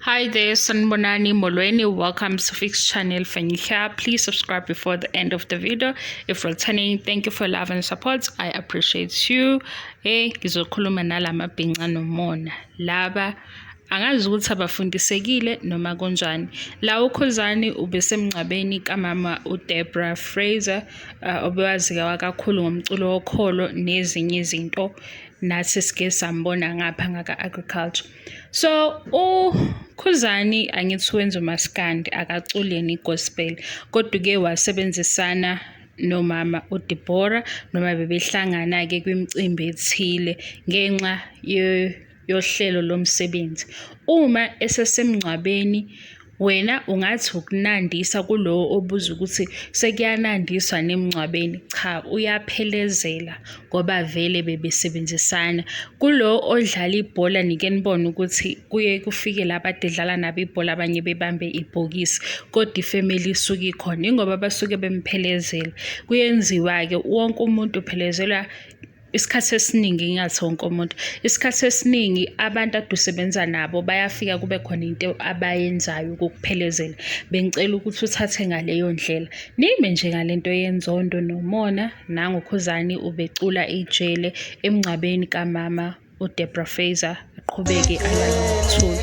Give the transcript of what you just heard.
Hi there, Sanbonani Molweni. Welcome to Fix Channel Fanyika. Please subscribe before the end of the video. If returning, thank you for love and support. I appreciate you. Hey, eh, ngizokhuluma nalama bhinca nomona. Laba angazi ukuthi abafundisekile noma kunjani la ukhuzani ubesemngcwabeni kamama udebra fraser uh, obewazikawa kakhulu ngomculo wokholo nezinye izinto nathi sike sambona ngapha ngaka-agriculture so ukhuzani angithi wenza umaskandi akaculi yena i-gospel kodwa uke wasebenzisana nomama uDeborah noma bebehlangana-ke kwimicimbi ethile ngenxa yohlelo lomsebenzi uma esesemngcwabeni Wena ungathi ukunandisa kulowo obuza ukuthi sekuyanandiswa nemngcwabeni. Cha, uyaphelezela ngoba vele bebesebenzisana. Kulo odlala ibhola nike nibone ukuthi kuye kufike laba adedlala nabo ibhola abanye bebambe ibhokisi kodwa ifemeli isuke ikhona ingoba basuke bemphelezela. Kuyenziwa-ke wonke umuntu uphelezelwa isikhathi esiningi ngingathi wonke umuntu isikhathi esiningi abantu ade usebenza nabo bayafika kube khona into abayenzayo ukukuphelezela bengicela ukuthi uthathe ngaleyo ndlela nime nje ngale nto yenzondo nomona nangokhuzani ubecula ijele emngcwabeni kamama udebra faser aqhubeke alalithula